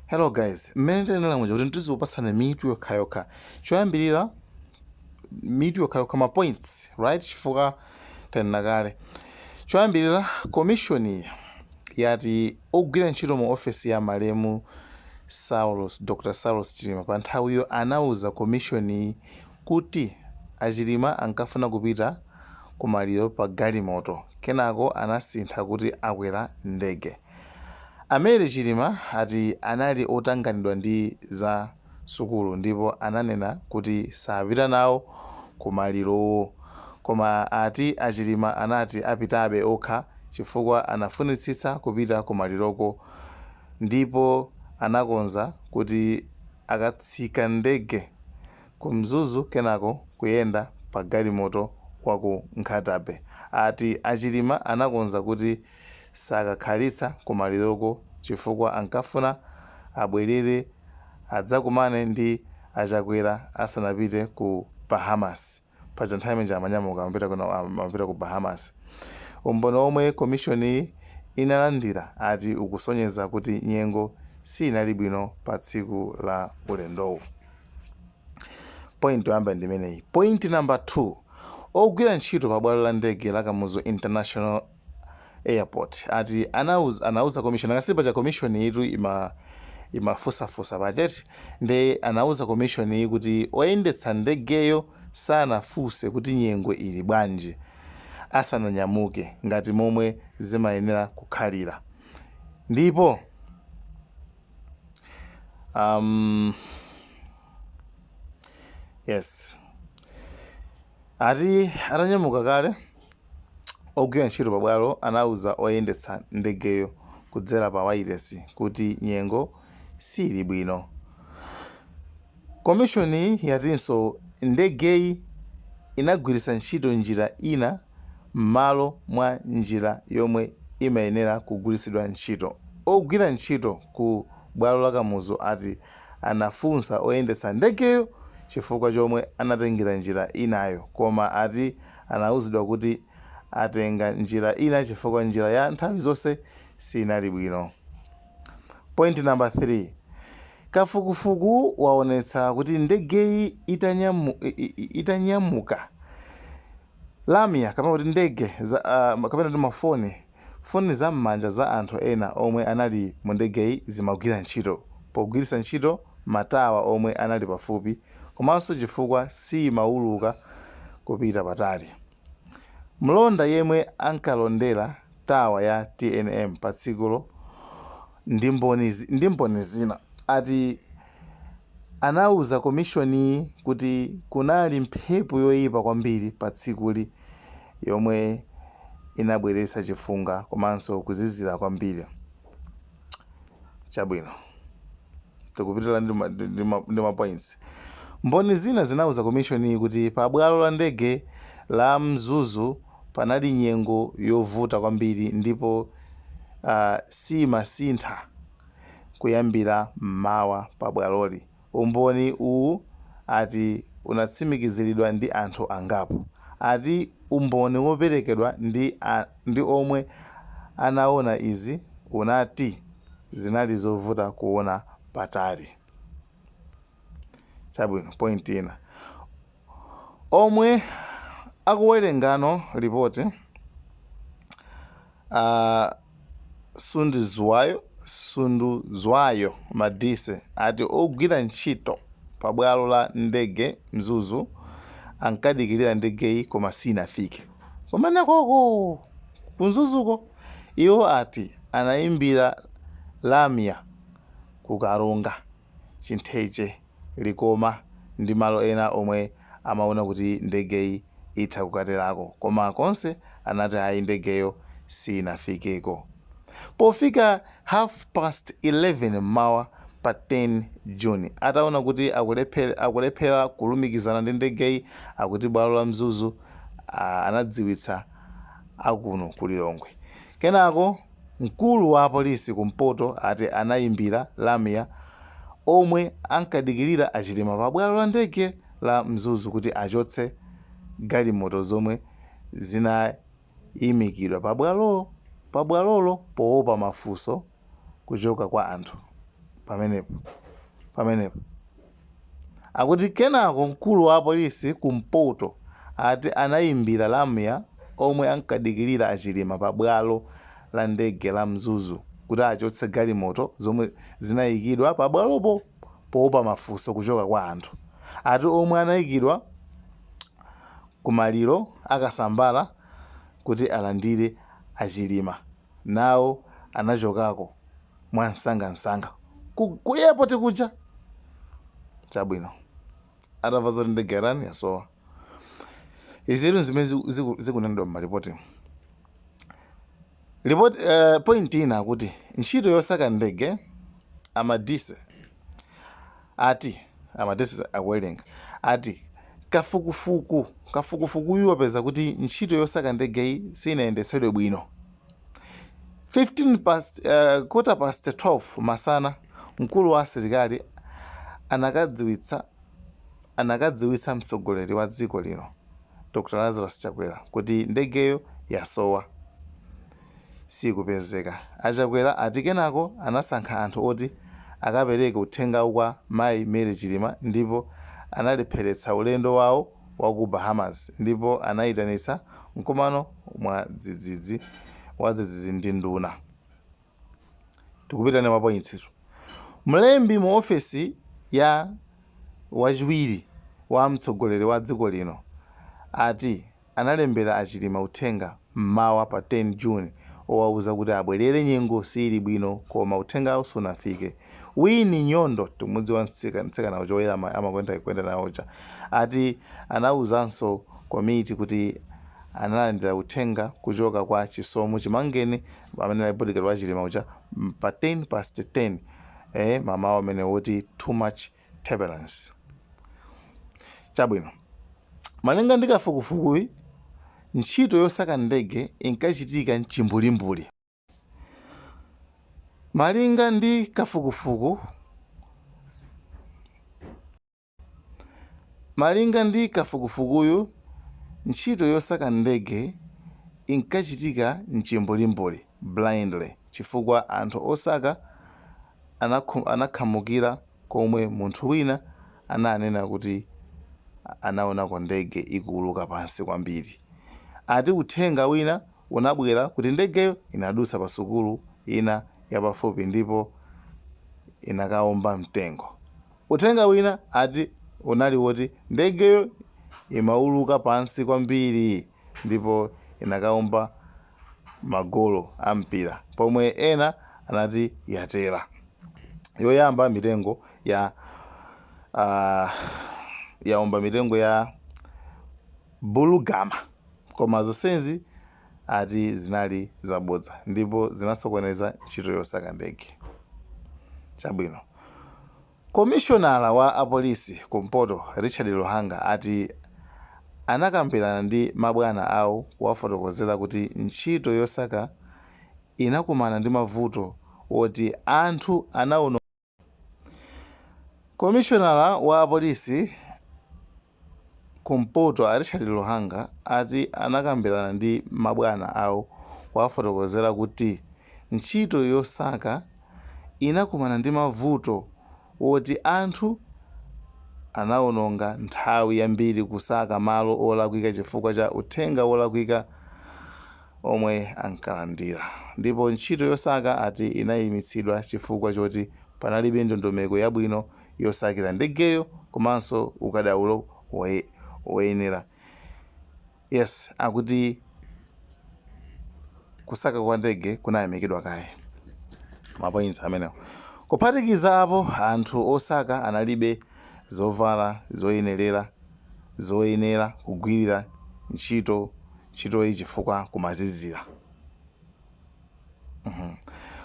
Hello guys, mmene ndinenera muja kuti ndizikupatsani mitu yokhayokha choyambirira mitu yokhayokha ma points right chifukwa tanena kale choyambirira komishoni yati ogwira ntchito mu ofesi ya malemu saulos dr saulos chilima pa nthawiyo anauza komishoni kuti achilima ankafuna kupita kumaliro pa galimoto kenako anasintha kuti akwera ndege A Mary Chilima ati anali otanganidwa ndi za sukulu ndipo ananena kuti sapita nawo ku malirowo koma ati a Chilima anati apitabe okha chifukwa anafunitsitsa kupita ku maliroko ndipo anakonza kuti akatsika ndege ku Mzuzu kenako kuyenda pa galimoto wa ku Nkhata-bay. Ati a Chilima anakonza kuti. Sakakhalitsa kumaliroko chifukwa ankafuna abwerere adzakumane ndi a Chakwera asanapite ku Bahamas. Paja nthawi imene ija amanyamuka amapita ku Bahamas. Umboni omwe komishoniyi inalandira ati ukusonyeza kuti nyengo siinali bwino pa tsiku la ulendowu. Point yoyamba ndi imeneyi. Point number 2. Ogwira ntchito pa bwalo la ndege la Kamuzu International airport ati anauz, anauza commission akasi paja commission yitu imafusafusa paja eti nde anauza commission yi kuti oyendetsa ndegeyo sanafuse kuti nyengo ili bwanji asananyamuke ngati momwe zimayenera kukhalira ndipo um, yes ati atanyamuka kale Ogwira ntchito pabwalo anauza oyendetsa ndegeyo kudzera pa wailesi kuti nyengo siili bwino. Komishoniyi yatinso ndegeyi inagwiritsa ntchito njira ina mmalo mwa njira yomwe imayenera kugwiritsidwa ntchito. Ogwira ntchito ku bwalo la Kamuzu ati anafunsa oyendetsa ndegeyo chifukwa chomwe anatengera njira inayo koma ati Anauzidwa kuti atenga njira ina chifukwa njira ya nthawi zonse sinali bwino. Point number 3, Kafukufuku waonetsa kuti ndegeyi itanyamuka, lamya kapena kuti ndege kapena kuti ma foni, Foni za m'manja za anthu ena omwe anali mu ndegeyi zimagwira ntchito pogwiritsa ntchito matawa omwe anali pafupi komanso chifukwa siyimauluka kupita patali. Mlonda yemwe ankalondera tawa ya tnm patsikulo, ndi Mboni ndi Mboni zina ati anauza komishoniyi kuti kunali mphepo yoipa kwambiri patsikuli yomwe inabweretsa chifunga komanso kuzizira kwambiri. Chabwino. Tikupitira ndi ma- ndi- ndi ma- ndi mapoints. Mboni zina zinauza komishoniyi kuti pabwalo la ndege la Mzuzu Panali nyengo yovuta kwambiri ndipo siimasintha kuyambira m'mawa pa bwaloli. Umboni uwu ati unatsimikiziridwa ndi anthu angapo. Ati umboni woperekedwa ndi omwe anaona izi unati zinali zovuta kuona patali. Chabwino, point ina. Omwe akuwerengano lipoti a Sunduzwayo Sunduzwayo Madise ati ogwira ntchito pa bwalo la ndege Mzuzu ankadikilira ndegeyi koma sinafike kumenekoko ku Mzuzuko. Iwo ati anaimbira lamya ku Karonga. Chintheche, Likoma ndi malo ena omwe amaona kuti ndegeyi itha kukaterako koma konse anati ayi ndegeyo sinafikeko. Pofika half past 11 m'mawa pa 10 June ataona kuti akulephera kulumikizana ndi ndegeyi akuti bwalo la Mzuzu anadziwitsa akuno ku Lilongwe kenako. Mkulu wa apolisi kumpoto ati anayimbira lamya omwe ankadikilira a Chilima pa bwalo la ndege la Mzuzu kuti achotse galimoto zomwe zinayimikidwa pa bwalo pa bwalolo powopa mafunso kuchoka kwa anthu pamenepo pamenepo. Akuti kenako mkulu wa apolisi ku mpoto ati anaimbira lamya omwe ankadikilira a Chilima pa bwalo la ndege la Mzuzu kuti achotse galimoto zomwe zinaikidwa pa bwalopo poopa mafunso kuchoka kwa anthu ati omwe anaikidwa ku maliro a Kasambara kuti alandire a Chilima. Nawo anachokako mwamsangamsanga ku ku airport kuja. Chabwino, atamva zoti ndege yatani, yasowa, izitu nzimene ziku- ziku- zikunenedwa m'malipotimu. Report, eh, point ina akuti ntchito yosaka ndege a Madise ati amadesi akuwerenga ati kafukufuku kafukufukuyu wapeza kuti ntchito yosaka ndegeyi siinayendetsedwe bwino 15 past, uh, quarter past 12 masana mkulu wa asilikali anakadziwitsa anakadziwitsa mtsogoleri wa dziko lino dr lazarus chakwera kuti ndegeyo yasowa siikupezeka. A Chakwera ati kenako anasankha anthu oti akapereke uthengawu kwa mayi Mary Chilima ndipo analepheretsa ulendo wawo wa ku Bahamas ndipo anaitanitsa mkumano mwa dzidzidzi wadzidzidzi ndi nduna. Tikupita ndi mapointsitu. Mlembi mu ofesi ya wachiwiri wa mtsogoleri wa dziko lino ati analembera a Chilima uthenga m'mawa pa 10 June owauza kuti abwerere nyengo siili bwino koma uthengawu sunafike. Winnie Nyondo, tikumudziwa mtsikana uja oyera amakonda kuyenda nawo uja, ati anauzanso komiti kuti analandira uthenga kuchoka kwa Chisomo Chimangeni amene anali bodyguard wa Chilima uja pa 10 past 10 mamawa umene woti too much turbulence. Chabwino. Malinga ndi kafukufukuyi, ntchito yosaka ndege inkachitika m'chimbulimbuli. Malinga ndi kafukufuku Malinga ndi kafukufukuyu, ntchito yosaka ndege inkachitika m'chimbulimbuli, blindly, chifukwa anthu osaka anakhamukira komwe munthu wina ananena kuti anaonako ndege ikuuluka pansi kwambiri. Ati uthenga wina unabwera kuti ndegeyo inadutsa pasukulu ina yapafupi ndipo inakaomba mtengo. Uthenga wina ati unali woti ndegeyo imauluka pansi kwambiri ndipo inakaomba magolo a mpira pomwe ena anati yatera yoyamba mitengo ya uh, yaomba mitengo ya bulugama koma zonsezi ati zinali zabodza ndipo zinasokoneza ntchito yosaka ndege chabwino Komishonala wa apolisi kumpoto Richard Luhanga ati anakambirana ndi mabwana awo kuwafotokozera kuti ntchito yosaka inakumana ndi mavuto oti anthu anaona. Komishonala wa apolisi. Kumpoto, a Richard Luhanga ati anakambirana ndi mabwana awo kuwafotokozera kuti ntchito yosaka inakumana ndi mavuto woti anthu anawononga nthawi yambiri kusaka malo olakwika chifukwa cha uthenga wolakwika omwe ankalandira ndipo ntchito yosaka ati inayimitsidwa chifukwa choti panalibe ndondomeko yabwino yosakila ndegeyo komanso ukadaulo woyenera. Yes akuti kusaka kwa ndege kunayimikidwa kaye. Ma points amenewo. Kuphatikiza apo, anthu osaka analibe zovala zoyenelera zoyenera kugwilira ntchito ntchitoyi chifukwa kumazizila.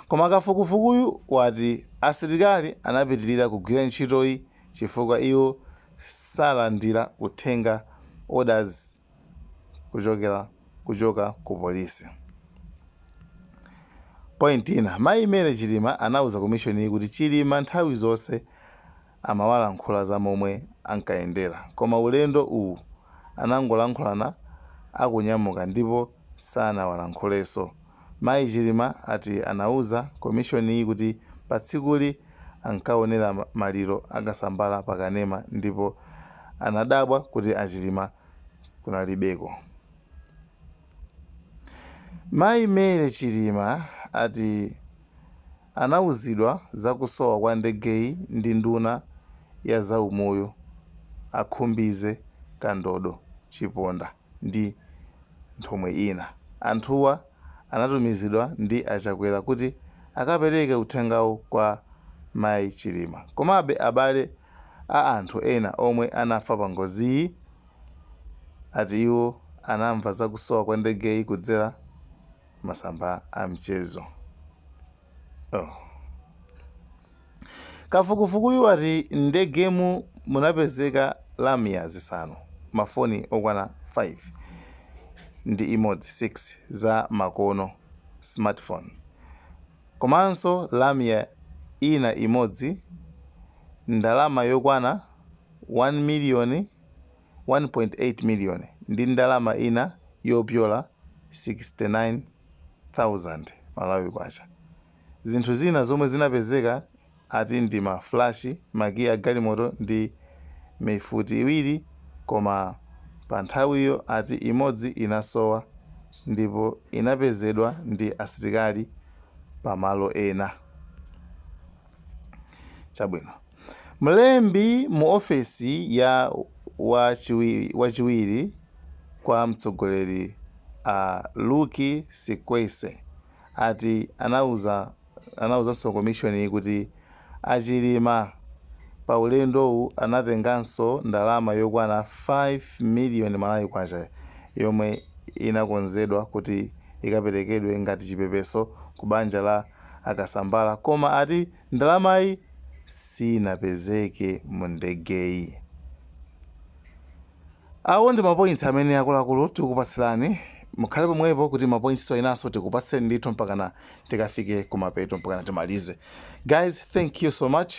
Koma kafukufukuyu wati asilikali anapitilira kugwira ntchitoyi chifukwa iwo salandira uthenga, orders, kuchoka ku polisi. Point ina, Mayi Mary Chilima anauza komishoniyi kuti Chilima nthawi zonse. amawalankhula za momwe ankayendera koma ulendo uwu anangolankhulana akunyamuka ndipo sanawalankhulenso. Mayi Chilima ati anauza komishoniyi kuti patsikuli ankaonera maliro a Kasambara pa kanema ndipo anadabwa kuti a Chilima kunalibeko. Mayi Mary Chilima ati. Anauzidwa za kusowa kwa ndegeyi ndi nduna ya za umoyo a Khumbize Kandodo Chiponda ndi nthumwi ina. Anthuwa anatumizidwa ndi a Chakwera kuti akapereke uthengawu kwa Mayi Chilima. Komabe abale a anthu ena omwe anafa pa ngoziyi ati iwo anamva za kusowa kwa ndegeyi kudzera. masamba a mchezo. kafukufukuyu wati ndegemu munapezeka lamya zisanu mafoni okwana 5 ndi imodzi 6 za makono smartphone komanso lamya ina imodzi ndalama yokwana 1 miliyoni 1.8 miliyoni ndi ndalama ina yopyola 69,000 Malawi Kwacha. Zinthu zina zomwe zinapezeka ati ndi ma fulashi, makiyi a galimoto ndi mifuti iwiri koma pa nthawiyo ati imodzi inasowa ndipo inapezedwa ndi asilikali pa malo ena. Chabwino. Mlembi mu ofesi ya wachiwiri kwa mtsogoleri a Lucky Sikwese ati anauzanso komishoniyi kuti a Chilima pa ulendowu anatenganso ndalama yokwana 5 miliyoni Malawi Kwacha yomwe inakonzedwa kuti ikaperekedwe ngati chipepeso ku banja la a Kasambara koma ati Ndalamayi siinapezeke mu ndegeyi. Awo ndi mapointsi amene akuluakulu tikukupatsirani. Mukhale pomwepo kuti mapointsiwa enanso tikupatseni ndithu mpakana tikafike kumapeto mpakana timalize. Guys, thank you so much.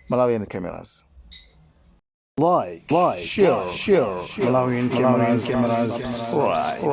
Malawian Cameras. Like, share, Malawian Cameras, subscribe.